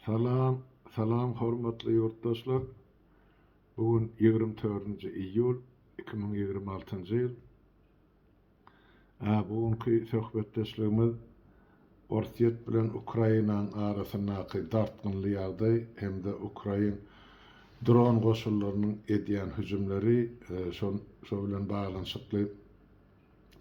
Salam Salam hormatly ýurtdaşlar bu gün ýigrimi dördünji iýul iki müň ýigrimi altynjy ýyl a bu günki söhbetdeşligimiz orsýet bilen ukrainaň arasyndaky dartgynly ýagdaý hem-de ukrain dron goşunlarynyň edýän hüjümleri şo bilen baglanyşykly.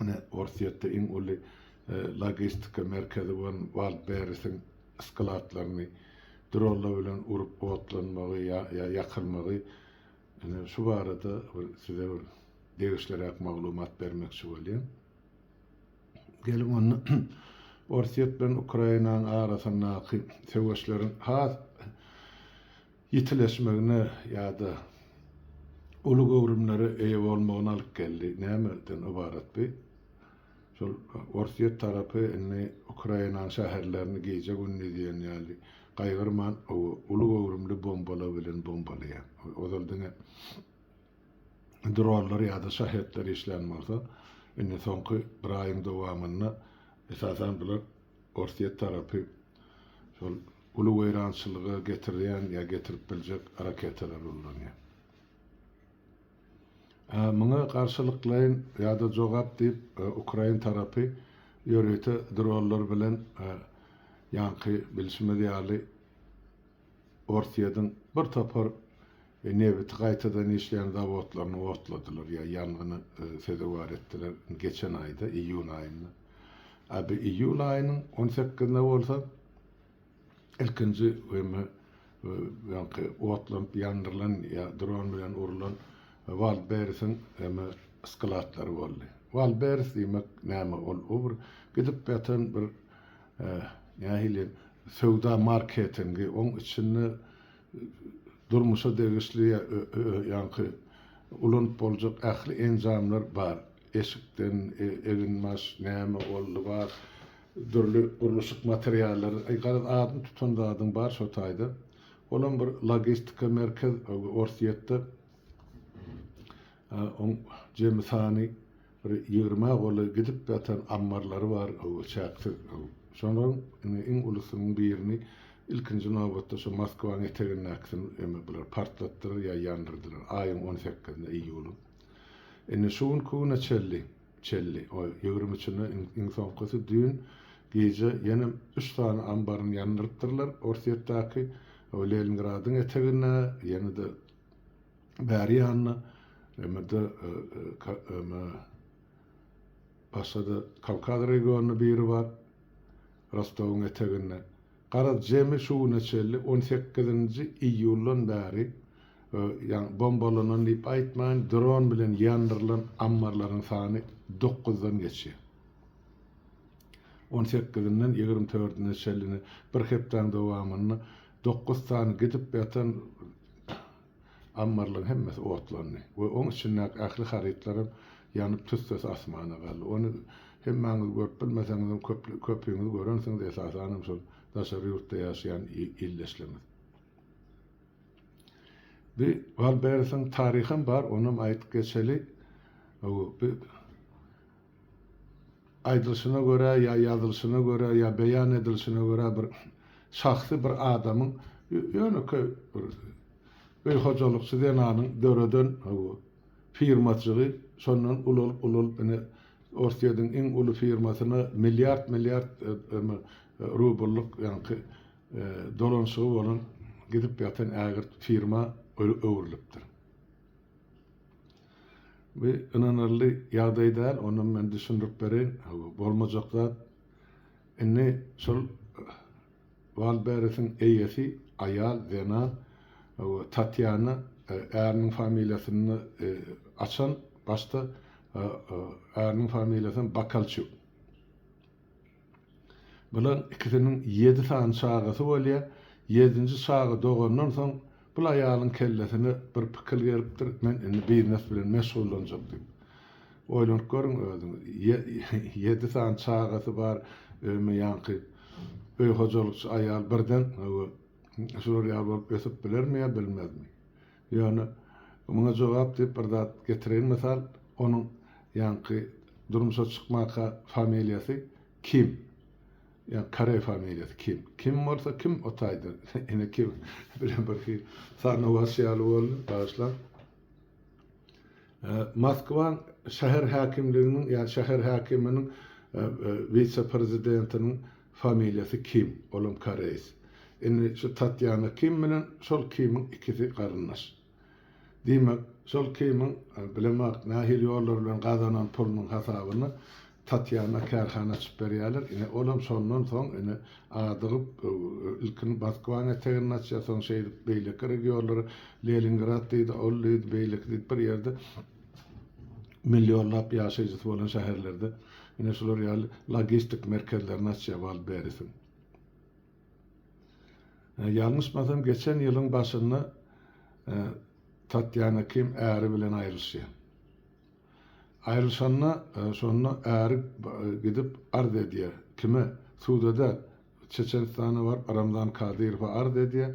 Ine, Orsýetde iň uly logistika merkezi bolan Waldberrisiň skladlaryny dronlar bilen urup otlanmagy ýa-da ýakylmagy, ine, şu barada bir size bir degişliräk maglumat bermekçi bolýan. Geliň onda Orsýet bilen Ukrainanyň arasyndaky söweşleriň has ýitileşmegine ýa-da uly göwrümlere eýe bolmagyna alyp geldi. Nämeden ybarat bu? Şol Orsýet tarapy indi Ukrainanyň şäherlerini gije-gündiz diýen ýaly gaýgyrman, uly göwrümli bombalar bilen bombalaýar. Ozal diňe dronlar ýa-da şahetler işlän bolsa, indi soňky bir aýyň dowamynda esasan bular Orsýet tarapy şol uly weýrançylyga getirýän ýa getirip biljek raketalary ulanýar. Muňa garşylyklaýyn ýa-da jogap diýip, ukrain tarapy ýörite dronlar bilen ýaňky bilşimiz ýaly Orsýetiň bir topar we nebiti gaýtadan işleýän zawodlaryny otladylar ýa ýangyny sezewar etdiler geçen aýda, iýun aýynda. A bu iýul aýynyň on sekizinde bolsa ilkinji wema öňki otlanyp ýandyrylan ýa dron bilen urulan Waldberisiň wema skladlary boldy. Waldberis diýmek näme? Ol o bir gidip ýatan bir nähili söwda marketingi, oň içinde Durmuşa degişli ýaňky ulanyp boljak ähli enjamlar bar. Eşikden, eginbaş, näme ol, lybas, dürli gurluşyk materiallary, aý garaz adyny tutan zadyň bar şo taýda. Olam bir logistika merkez Orsýetde. Oň jemi sany bir ýigrimi-ä goly gidip ýatan ammarlary bar, ho-o, çäksiz. Şolaryň indi iň ulusynyň birini ilkinji nobatda şo Moskwanyň etegindäkisini emi bular partlatdylar ýa ýandyrdylar, aýyň on sekizinde, iýulyň. Indi şu günki güne çelli, çelli, o ýigrimi üçünde iň, iň soňkusy düýn gije ýene üç sany ambaryny ýandyrypdyrlar Orsýetdäki, o Leningradyň eteginde, ýene-de, Bäri ýanyna emede eme başga-da Kawkaz regionyny biri bar, Rostowyň eteginde. Garaz, jemi şu güne çenli on sekizinji iýuldan bäri ýagny bombalanan diýip aýtmaýyn, dron bilen ýandyrylan ammarlaryň sany dokuzdan geçýär. On sekizinden ýigrimi dördüne çenli bir hepdäň dowamynda Dokuz sany gidip ýatan ammarlaryň hemmesi otlandy we oň içindäki ähli harytlaram ýanyp tüssesi asmana galdy. Ony hemmäňiz görüp bilmeseňizem köpüňiz görensiňiz esasanam şol daşary ýurtda ýaşaýan ildeşlerimiz. Bir Walberesiň taryham bar onam aýdyp geçeli. Aýdylyşyna görä ýa ýazylyşyna görä ýa beýan edilişine görä bir şahsy bir adamyň ýönekeý bir öý hojalykçy zenanyň döreden bu firmajygy şondan ulalyp ulalyp ine Orsýediň iň uly firmasyna milliard milliard rublyk ýaňky dolanyşygy bolan gidip ýatan ägirt firma öwrülipdir. Bu ynanarly ýagdaý däl, onam men düşündirip bereýin. Bu bolmajak zat. Indi şol Waldberesiň eýesi, aýal, zenan, Tatýana äriniň familiýasyny açan, başda äriniň familiýasy hem Bakalçuk. Bular ikisiniň ýedi sany çagasy bolýar. Ýedinji çaga dogandan soň, bul aýalyň kellesine bir pikir gelipdir, men indi biznes bilen meşgullanjak diýip. Oýlanyp görüň özüňiz, ýedi sany çagasy bar, öýme ýaňky öý hojalykçy aýal birden, hawa, şular ýaly bolup ösüp bilermi ýa bilmezmi? Ýöne muňa jogap diýip bir zat getireýin mysal, onuň ýaňky durmuşa çykmaka familiýasy Kim. Ýa koreý familiýasy Kim. Kim bolsa kim o taýda ene kim bilen bir hil sanawaç ýaly boldy, bagyşlaň. Moskwaň şäher häkimliginiň ýa şäher häkiminiň wise-prezidentiniň Familiýasy Kim, olam koreýs. Indi şu Tatýana Kim bilen şol Kimiň ikisi garyndaş. Diýmek, şol Kimiň bilemok nähili ýollar bilen gazanan pulunyň hasabyny Tatýana kärhana açyp berýärler. Ine, olam şondan soň ine adygyp, ilkin Moskwaň eteginde açýar, soň şeýdip beýleki regionlara, Lelingrad diýdi, ol diýdi, beýleki diýip bir ýerde millionlap ýaşaýjysy bolan şäherlerde. Ine şular ýaly logistik merkezlerini açýar Waldberisin. Ýalňyşmasam geçen ýylyň başynda Tatýana Kim äri bilen aýrylyşýar. Aýrylyşanda şonda äri gidip arz edýär. Kime? Suda däl. Çeçenistana baryp Ramzan Kadyrowa arz edýär.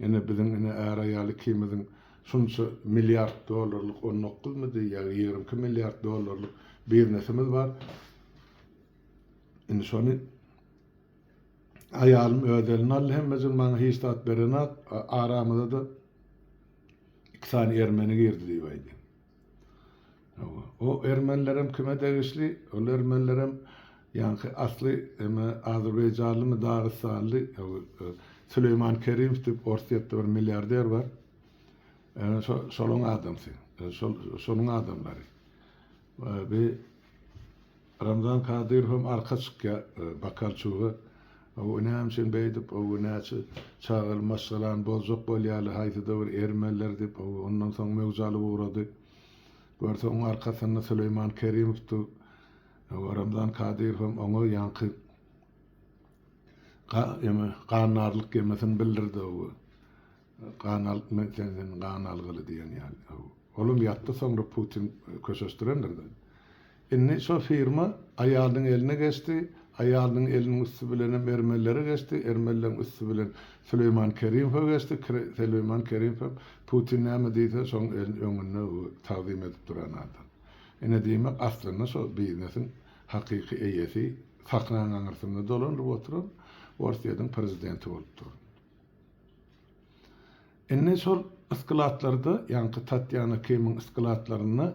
Ine biziň ine är-aýal ikimiziň şunça milliard dollarlyk on dokuzmy diýýär ýa ýigrimi iki milliard dollarlyk biznesimiz bar. Indi şony aýalym öz eline aldy hemmejigim maňa hiç zat berenok. Aramyza-da iki sany ermeni girdi diýip aýdýar. O ermenilerem kime degişli? Ol ermenilerem ýaňky asly eme azerbaýjanlymy dagystanly Süleýman Kerimov diýip Orsýetde bir milliarder bar. Ene şo şoluň adamsy. Şol şonuň adamlary. Bi Ramzan Kadyrowam arka çykýar bakalçylyga. Ow näme üçin beýdip, ow näçe çagaly maşgalany bozjak bolýaly, haýsyda bir ermeniler diýip, ow ondan soň möwje alyp ugrady. Görse oň arkasynda Süleýman Kerimow dur. Ow Ramzan Kadyrowam oňa ýaňky ga eme gannarlyk emesini bildirdi ow. Gan alyp men senden gan algyly diýen ýaly haw. Olam ýatdy soňra Putin köşeşdirendirde. Indi şo firma aýalynyň eline geçdi, aýalynyň eliniň üsti bilenem ermenilere geçdi, ermenileriň üsti bilen Süleýman Kerimowa geçdi, Süleýman Kerimow hem Putin näme diýse şoň öňünde tagzym edip duran adam. Ine diýmek aslynda şo biznesiň hakyky eýesi sahnaň aňyrsynda dolanyp oturan Orsýetiň prezidenti bolup durun. Indi şol ysklatlarda, ýaňky Tatýana Kimiň ysklatlarynda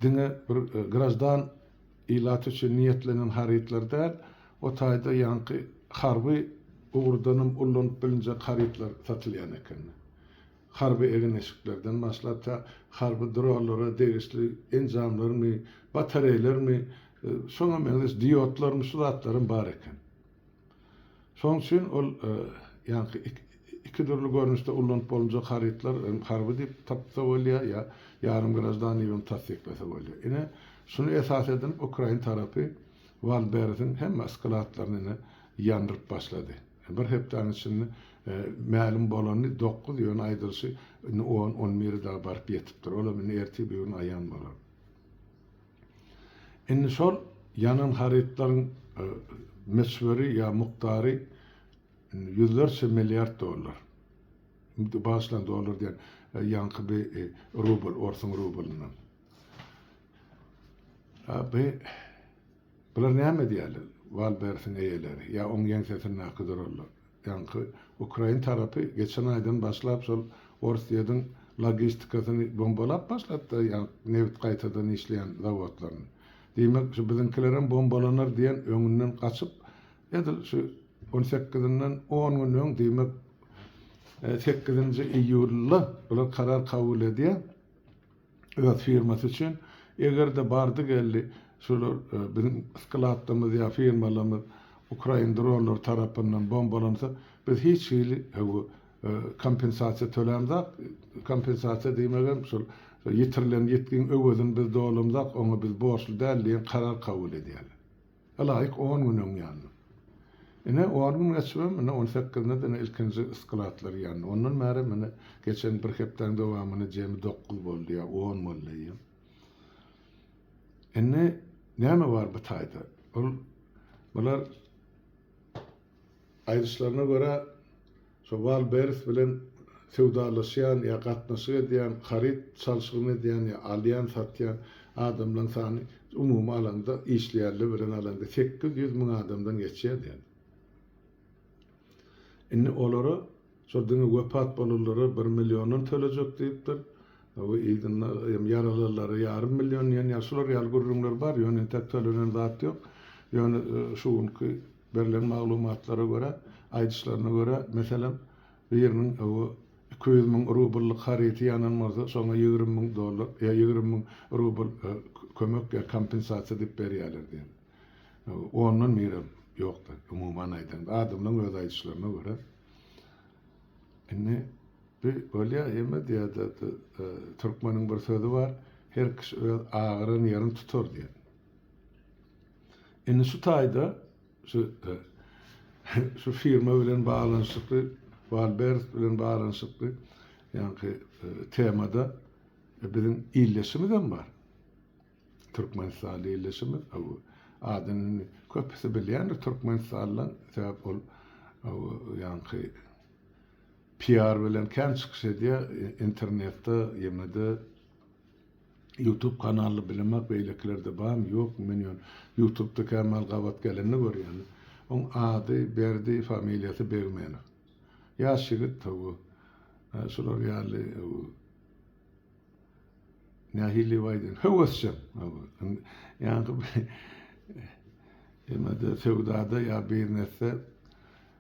diňe bir graždan ilat üçin niýetlenen harytlar däl, o taýda ýaňky harby ugurdanam ullanyp bilinjek harytlar satylýan eken. Harby egin-eşiklerden başlap, tä harby dronlara degişli enjamlarmy, batareýlermi, şoňa meňzeş diodlarmy şu zatlaram bar eken. Şonuň üçin ol ýaňky iki dürli görnüşde ullanyp bolunjak harytlar hem harby diýip tapsa bolýar, ýa ýarym graždan diýip hem tassyklasa bolýar. Ine, şuny esas edinip ukrain tarapy Waldberesiň hemme skladlaryny ine ýandyryp başlady. Bir hepdäniň içinde mälim bolany dokuz, ýöne aýdylyşy indi on, on bire dagy baryp ýetipdir. Olam indi ertir-birigün aýan bolar. Indi şol ýanan harytlaryň möçberi ýa mukdary ýüzlerçe milliard dollar. Bagyşlaň, dollar diýen, ýaňky bi rubl, orsuň rublyndan. Bi, bular näme edýärler, Wal-Bersiň eýeleri ýa oň ýeňsesindäki durallar? Ýaňky ukrain tarapy geçen aýdan başlap şol Orsýediň logistikasyny bombalap başlapdy, ýa-ni nebit gaýtadan işleýän zawodlaryny. Diýmek, şu biziňkilerem bombalanar diýen öňünden gaçyp, edil şu on sekizinden on gün öň, diýmek, sekizinji iýulda bular karar kabul edýär. öz firmasy üçin. Eger-de bardy-geldi şular biziň skladlarymyz ýa firmalarymyz ukrain dronlary tarapyndan bombalansa, biz hiç hili bu kompensasiýa tölämzok. Kompensasiýa diýmegem şol ýitirilen ýitgiň öwezini biz dolamzok, oňa biz borçly däl diýen karar kabul edýärler. Ylaýyk on gün öň ýandy. Ine, on gün geçibem, ine, on sekizinde diňe ilkinji skladlar ýandy. Ondan bärem, ine, geçen bir hepdäň dowamynda jemi dokuz boldy ýa on boldy. Indi näme bar bu taýda? Ol, bular aýdyşlaryna görä, Şo Wallbers bilen söwdalaşýan ýa gatnaşyk edýän, haryt çalşygyny edýän ýa alýan, satýan adamlaryň sany umumy alanda, işleýänler bilen alanda sekiz ýüz müň adamdan geçýär diýen. Indi olara şol diňe wepat bolanlara bir milliondan tölejek diýipdir. Bu yzynda hem ýaralanlara ýarym million diýen ýaly şular ýaly gürrüňler bar. Ýöne entek tölenen zat ýok. Ýöne şu günki Berlen maglumatlara görä, aýdyşlaryna görä, meselem, biriniň bu iki ýüz müň rubllyk haryty ýanan bolsa, şoňa ýigrimi müň dollar, ýa ýigrimi müň rubl kömek ýa kompensasiýa diýip berýärler diýen. Ondan birem ýokdy, umuman aýdanda. Adamlaryň öz aýdyşlaryna görä. Indi bu bolýa, ýeme diýada türkmeniň bir sözi bar, Her kişi öz agyran ýerini tutar diýen. Indi şu taýda şu şu firma bilen baglanyşykly, Walbers bilen baglanyşykly ýaňky temada biziň ildeşimizem bar. Türkmenistanly ildeşimiz bu adyny indi köpüsi bilýändir türkmenistanlylaryň, sebäp ol ýaňky PR bilen kän çykyş edýär internetde, ýene-de Youtube kanaly bilemok beýlekilerde barmy ýokmy men ýöne Youtubda kämal gabat gelende görýän oň ady Berdi familiýasy Begmenow ýaş ýigit tawy şular ýaly nähiliw aýdaýyn höwesjeň ýaňky emede söwdada ýa biznesde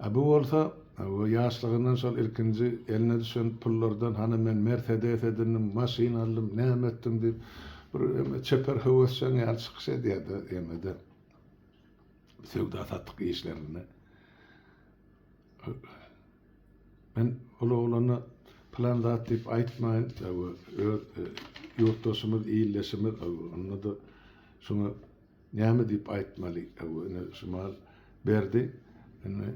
A bu bolsa, ýaşlygyndan şol ilkinji eline düşen pullardan hany men Mersedes edindim, maşyn aldym, näme etdim diýip, bir ýöne çeper höwesjeň ýaly çykyş edýär-de, ýene-de söwda-satyk işlerinde. Men ol oglana pylan zat diýip aýtmaýyn, öz ýurtdaşymyz, ildeşimiz, onda-da şuňa Näme diýip aýtmaly hawa ine şumal Berdi ine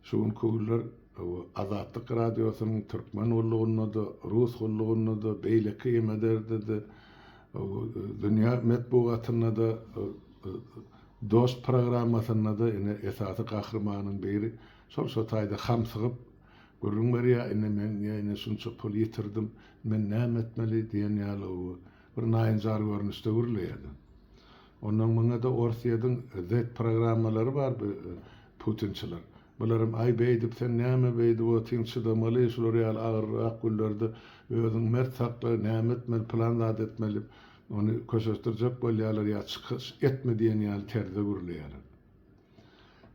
şu gün künler hawa Azatlyk radiosynyň Türkmen gullugynda-da Rus gullugynda-da beýleki emederdede hawa dünýä metbugatynda-da Dost programmasynda-da ine esasy gahrymanyň biri şol şo taýda hamsygyp gürrüň berýär ine men ine şunça pul ýitirdim men näme etmeli diýen ýaly hawa Bir naýynjar görnüşde gürleýärdi. Ondan myňada Orsýediň Z programmalary bar bu putinçiler. Bularam aý beýdip sen näme beýdip otyň çydamaly şular ýaly agyrrak günlerde özüň mert sakla näme etmeli plan zat etmeli ony köşeşdirjek bolýarlar ýa çykyş etme diýen ýaly terzde gürleýärler.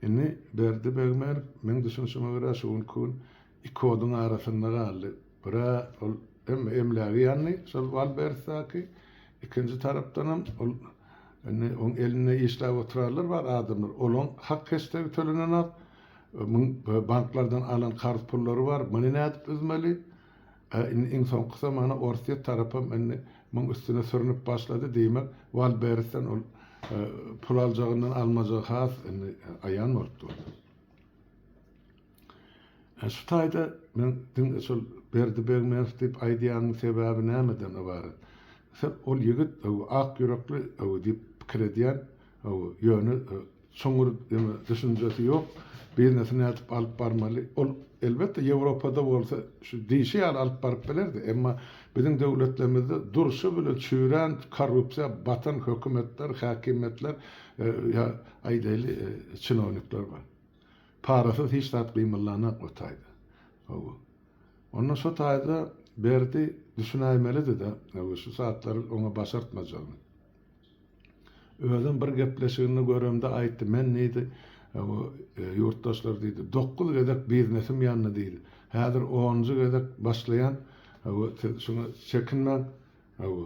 Indi Berdi Begmärow meň düşünişime görä şu günki gün Iki oduň arasynda galdy. Bir-ä ol hem emlägi ýandy şol Walberstaky, ikinji tarapdanam ol indi oň elinde işläp oturarlar bar adamlar. Olaň hak-hesdegi tölenenok. Muň banklardan alan karz pullary bar. Muny nädip üzmeli? Ä indi iň soňky zamana Orsýet tarapam indi muň üstüne sürnüp başlady. Diýmek, Walbersden ol pul aljagyndan almajagy has indi aýan bolup durdy. Şu taýda men diňe şol Berdi Begmerow diýip aýdýanyň sebäbi nämeden ybarat? Sen ol ýigit ak ýürekli diýip pikir edýän, ýöne çuňňur düşünjesi ýok. Biznesi nädip alyp barmaly? Ol elbetde Ýewropada bolsa şu diýşi ýaly alyp baryp bilerdi, emma biziň döwletlerimizde durşy bilen çüýrän korrupsiýa batan hökümetler, häkimiýetler ýa aýdaýly çinownikler bar. Parasyz hiç zat gymyldanak o taýda. Hawa. Onda şo taýda Berdi düşünäýmelidi-de, hawa, şu zatlar oňa başartmajagyny. Özem bir gepleşiginde göremde aýtdy, men diýdi, hawa, ýurtdaşlar diýdi, dokuz gezek biznesim ýandy diýdi. Häzir onunjy gezek başlaýan, hawa, siz şuňa çekinmäň, hawa.